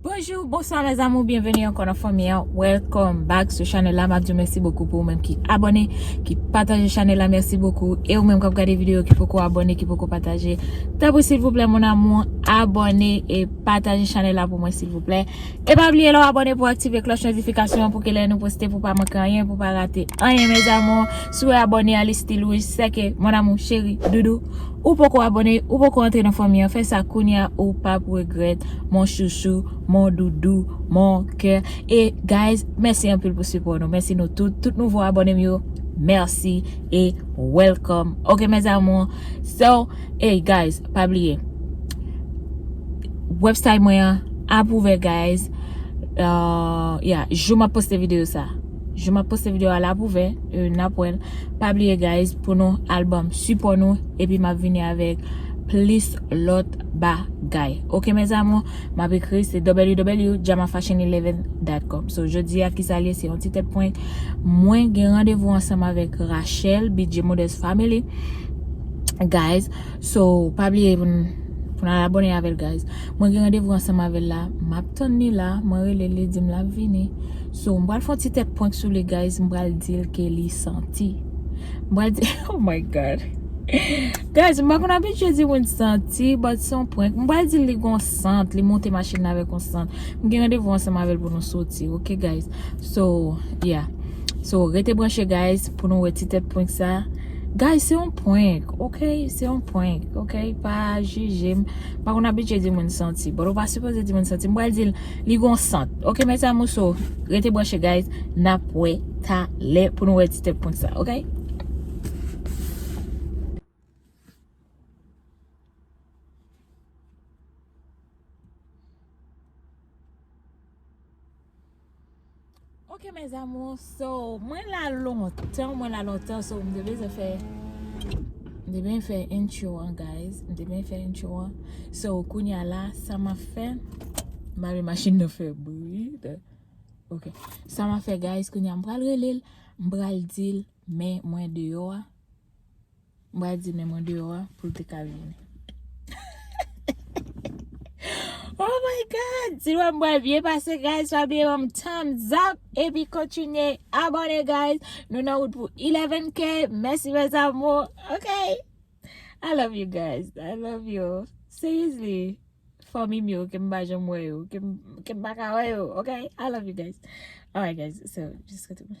Bonjou, bonswa mè zamou, byenveni ankon nan fanmi an, welcome back sou chanel la, map di mèsi bokou pou ou menm ki abone, ki pataje chanel la, mèsi bokou, e ou menm kap gade video ki poko abone, ki poko pataje, tabou silvouplè mon amou, abone e pataje chanel la pou mwen silvouplè, e pa bliye lò abone pou aktive kloch notifikasyon pou ke lè nou poste pou pa manke anyen, pou pa rate anyen mè zamou, sou abone a li stil wouj, seke mon amou, cheri, doudou. Ou poko abone ou poko antre nan fanmi an fè sa kounya ou pap regrèt mon chouchou mon doudou mon kè e guys mèsi anpil pou sipò nou mèsi nou tout tout nouvo abonem yo mèsi e welcome ok mes amours so ey guys pa bliye website mwen an ap ouvè guys ya jou map poste video sa. Jou map poste video a lap ouvè e nap wèl. Pa bliye guys pou nou al banm sipò nou epi map vini avèk plis lòt bagay. Ok mes amours map ekri se www.jamafashion11.com So jodi a kisa liye se yon ti tèt prank. Mwen gen randevou ansanm avèk Rachelle bidje modèst family guys. So pa bliye pou nou al abone avèl guys. Mwen gen randevou ansanm avèl la map tann li la mwen relel li dim lap vini. So m pral fon ti tèt prank sou li guys m pral dil ke li santi m pral di oh my god guys m pa konn abitye di moun santi but se yon prank m pral dil li gon sant li monte machin la avèk yon sant m gen randevou ansanm avèl pou nou soti ok guys so yeah so rete branche guys pou nou wè ti tèt prank sa guys se yon prank ok se yon prank ok pa jije m pa konn abitye di moun santi but ou pa sipoze di moun santi m pral dil. Li gon sant. Ok mes amours so rete branche guys nap wè talè pou nou wè ti tèt pont sa ok. Ok mes amours so mwen la lontan mwen la lontan so mwen te bezwen fè mwen te bezwen fè intro an guys mwen te bezwen fè intro an so kounya la sa ma fè ma vle machin nan fè bri ok sa ma fè guys kounya m pral relel m pral dil men mwen deyò a. M pral di menm andeyò a pou l te ka vini. Oh my God! Si l wè m bwè l byen pase guys pa bliye banm thumbs up epi kontinye abone guys. Nou nan wout pou 11k. Mèsi mes amours. Ok! I love you guys. I love you. Seriously. Fanmi m yo ke m pa janm wè yo. Ke m pa ka wè yo. Ok! I love you guys. Alright guys. So, jiska demen.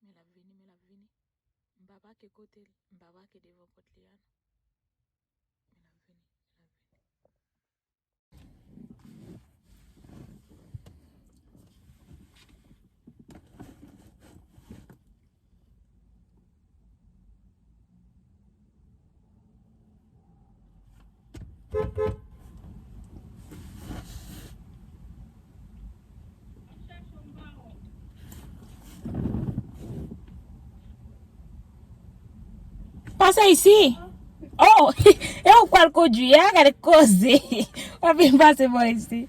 Men l ap vini, men l ap vini. M pa pake kote l, m pa pake devan pòt li a non. Men l ap vini, men l ap vini. Pase isi. Oh, e ou pral kondwi a, gade koze. Wap vin pase mwen isi.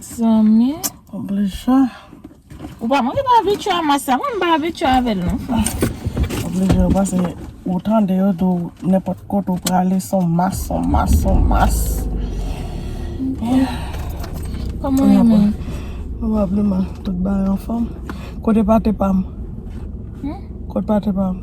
Zanmi oblija. Ou pa manje barbecue a mas la. Mwen m barbecue avèl non fwa. Oblije yo pase ou tande yo do nenpòt kote ou prale son mas, son mas, son mas. Koman yo men? Pwobableman tout bagay anfòm. Kote pate pam? Kote pate pam?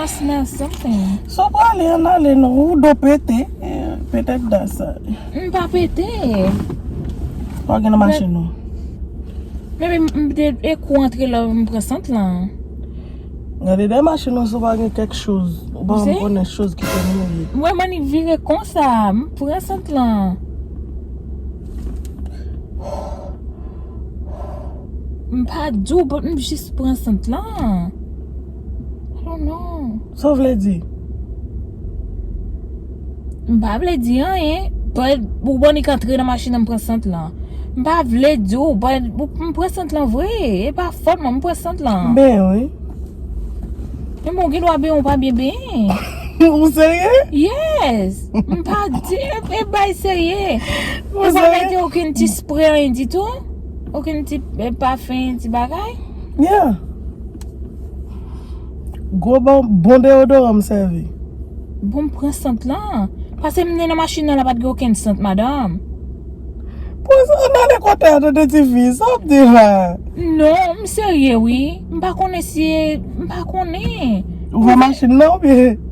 Ask me something. Sa w prale an ale non. Ou do pete. Petet dan sa. M pa pete. Sa w gen nan machin ou? Men men m te ekou antre la m pran sant lan. Gade dèyè machin ou si w pa gen kèk choz. Ou pa m konnen choz ki te mouye. M wè mannik vire konsa. M pran sant lan. M pa di w but m jis pran sant lan. I don't know. Sa w vle di? M pa vle di anyen. But ou bon li k antre nan machin nan m pran sant lan. M pa vle di w but m pran sant lan vre. E pa fòt mwen m pran sant lan. M benyen wi. Ebyen w gen dwa benyen w pa byen benyen. Ou serye? Yes. M pa di e bay serye. Ou pa mete okin ti spre anyen ditou? Okin ti pafen ti bagay? Yeah. Gwo bon, bon deodoran m sèvi. Bon m pran sant lan. Pase m nan machin nan la pat gen okenn sant madanm. Bon sa nan de kote a tande ti fi. Sa wap di la? Non, m serye wi. M pa konnen si e, m pa konnen. Ou pran machin nan oubyen?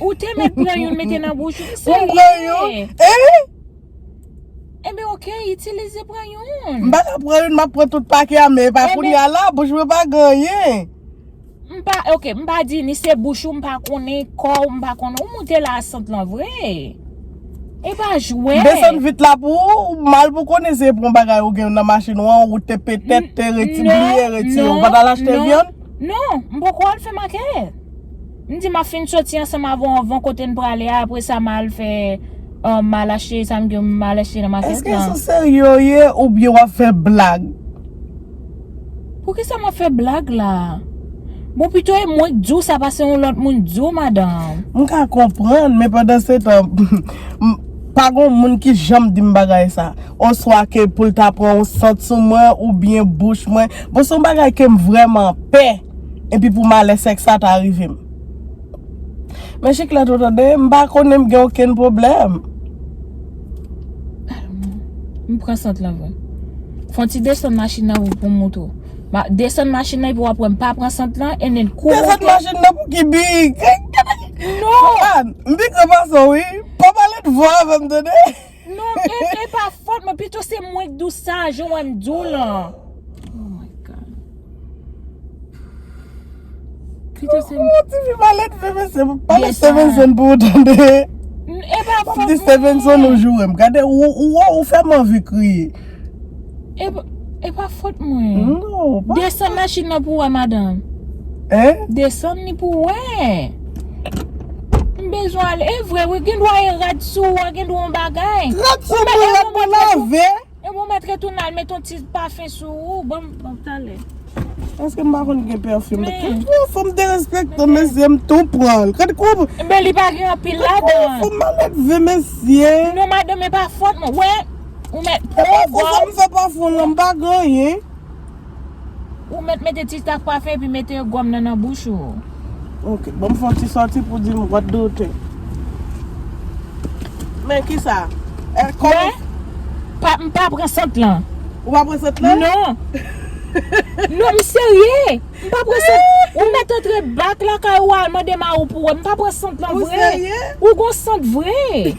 Ou te mèt pran youn mete nan bouch ou, se Ou pran youn, byen. eh! Enben ok, itilize pran youn. M pa ka pran youn, m ap pran tout pake a men epa kounye a la, bouch mwen pa gen anyen. M pa, ok, m pa di ni se bouch ou, m pa konnen kò ou, m pa konnen, ou moute la a sant lan vre. E pa jwè. M desann vit la pou ou, ou mal pou konnen se pran bagay ou gen nan machin ou an, ou te petèt te reti, bliye retire. Ou pa t al achte vyann? Non, m poko al fè makèt. M di map fin soti ansanm avw anvan kote n prale a apre sa ma al fè mal achte sa m gen mal achte nan makèt lan. Eske sou serye w ye oubyen wap fè blag? Poukisa map fè blag la? Bon pito e mwen k diw sa pase yon lòt moun k diw madanm. M ka konprann men pandan se tan m pa gon moun ki janm dim bagay sa oswa ke poul ta pran yon sant sou mwen oubyen bouch mwen bon son bagay kem vrèman pè. Epi pou malè sèks sa ta rive m. Men chiklet ou tande, m pa konnen m gen okenn pwoblèm. M pran sant lan vre. Fon ti desann machin nan vre pou m montre w. Desann machin nan epi w ap wè m pa pran sant lan e nen kou monte. Desann machin nan pou ki bi? Non! M pi gran pase w wi. Pa pale twò avè m tande. Non em e pa fòt mwen pito se mwen k dou sa jan wè m dou lan. Pito se mwen. Ti fi malèt veve se pou pale Stevenson pou ou tande. E pa fòt mwen. Map di Stevenson ou joure m. Gade ou wè ou fè m anvi kriye. E pa fot mwen. Desann machin nan pou wè madanm. Desann ni pou wè. M bezwen ale. E vre wi gen dwa e rad sou ou a gen dwa yon bagay. Rad sou mwen la pou lave. E bon mèt retounen al met yon ti pafen sou ou. Bon m talè. Eske m pa konn gen pèfim. Men. Fò m derespekte mesye m tou pran l. Kade kou. Men li pa gen anpil ladan. Fò m malèdve mesye. Non madanm e pa fot mwen. Wè. Ou met Ou pran pou sa m gòm. fè pafon lan m pa gen anyen. Ou met mete ti staf kwafe epi mete gòm nan nan bouch ou. Ok, banm fè yon ti sòti pou di m what do you think? Men kisa? Eh, kòm Mwen pa m pa pran sant lan. Ou pa pran sant lan? Non. Non, m serye. M pa pran sant. Ou met antre back lakay ou al mande marou pou wè. M pa pran sant lan Ou vre. serye? Ou gon sant vre.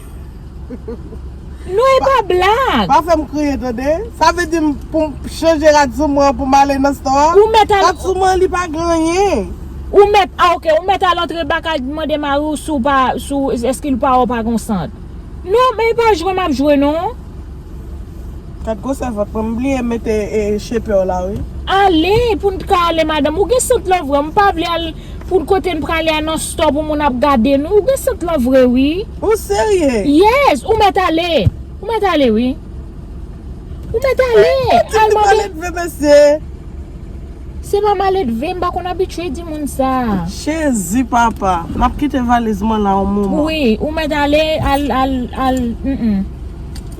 Non e pa blag. Pa fèm kriye tande. Sa vle dim poum chanje rad sou mwen poum ale nan stò a? Ou mèt al. Rad sou mwen li pa gen anyen. Ou mèt a ok, ou mèt al antre baka mande mariw si w pa, si w, eske li pa wè w pa gen w sant. Non men e pa jwe map jwe non. Gad gwosè vant mwen. M bliye mete shaper w la wi. Ale pou n t ka ale madanm. Ou gen sant lan vre m pa vle al pou n kote n prale a nan store pou moun ap gade nou ou gen sant lan vre wi. Ou serye? Yes ou mèt ale ou mèt ale wi ou mèt ale al mande. Se pa maledve m pa konn abitye di moun sa. Jezi papa. Map kite valiz mwen la yon moman. Wi ou mèt ale al al al.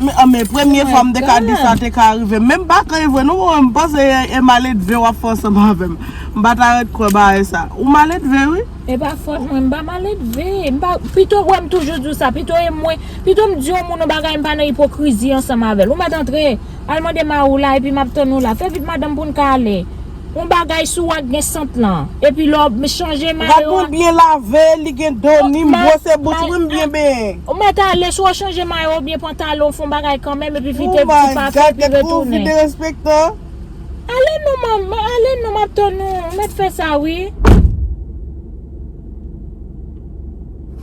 Men premye fwa m te ka di sa te ka rive. Men m pa kwè e vre non mwen m panse e maledve w ap fè ansanm avè m. M pa ta ret kwè bagay sa. Ou maledve wi. E pa fòt mwen, m pa maledve. M pa, pito wè m toujou di w sa, pito e mwen, pito m di yon moun yon bagay m pa nan ipokrizi ansanm avè l. Ou mèt antre, al mande mari w la epi m ap tann ou la. Fè vit madanm pou n ka ale. On bagay sou ak gen sant lan. Epi lè w chanje mayo a. Gad mwen byen lave, li gen do ni m bwose bouch wi m byen benyen. Ou mèt ale sou w chanje mayo oubyen pantalon fon bagay kanmenm epi fite ti pafen epi retounen. Oh my God gad kouman w vin derespektan. Ale non mom, ale non map tann ou, ou mèt fè sa wi.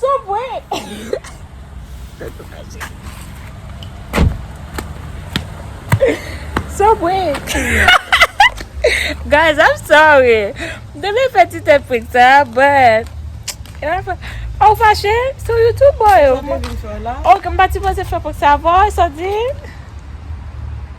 Son prank. Son prank. Guys, I'm sorry. Deme fè ti tèt prank sa, but. Ah, ou fache? Sou YouTube boy. Sa mwen vin fè la. Ok, m pati poze fè prank sa avò, sa di?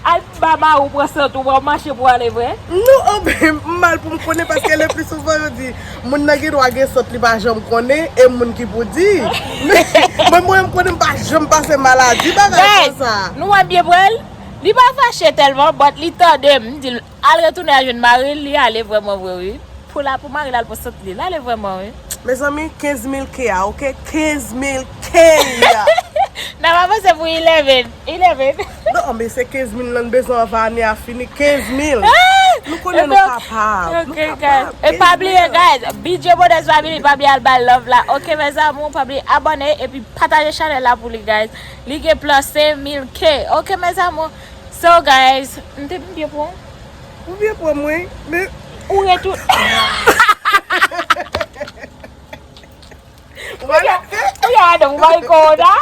Alph baba ou pran sant ou wap mache pou ale vre? Non anben m mal poum konnen paske le pli souvan yo di moun nan gen dwa gen sant li pa janm konnen e moun ki pou di men mwen m konnen m pa janm pase maladi bagay konsa. Guys nou wè m byen pranl li pa fache telman but li tandem m dil. Al retounen al jwenn maril li ale vrèman vre wi pou la pou maril al pou sant li lale vrèman wi. Mezanmi 15 mil k a ok 15 mil k. Nap avanse pou 11 11. Non anbe se 15 mil nan bezwen anvan ane a fini 15 mil nou konnen nou kapab nou kapab 15 mil. E pa bliye guys bidjè modès family pa bliye al bal love la ok mes amour pa bliye abone epi pataje chanel la pou li guys li gen plan 5000 k ok mes amour. So guys m te m byen pran w? Ou byen pran m wi men ou ret ou Ou ya adan ou bay kò w da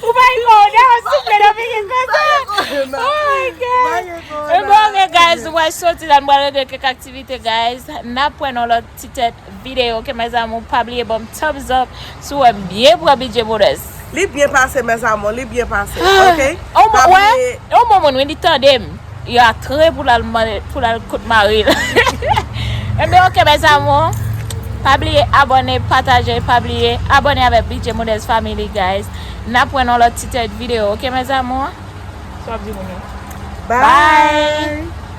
Ou bay kò w da souple nan figi konsa Oh my god Ebyen ok guys nou pral soti la nou pral regle kèk aktivite guys Nap pran yon lòt ti tèt video ok mes amour pa bliye banm thumbs up si w wèm byen pran bgy modès. Li byen pase mes amour li byen pase ok pa bliye. On bon moun wi li tandem yo a tre pou lal pou lal kot maril enben ok mes amour pa bliye abone pataje pa bliye abone avek bgy modès family guys nap wè nan lot ti tèt video ok mes amour. Sa wap di moun yo. Bye.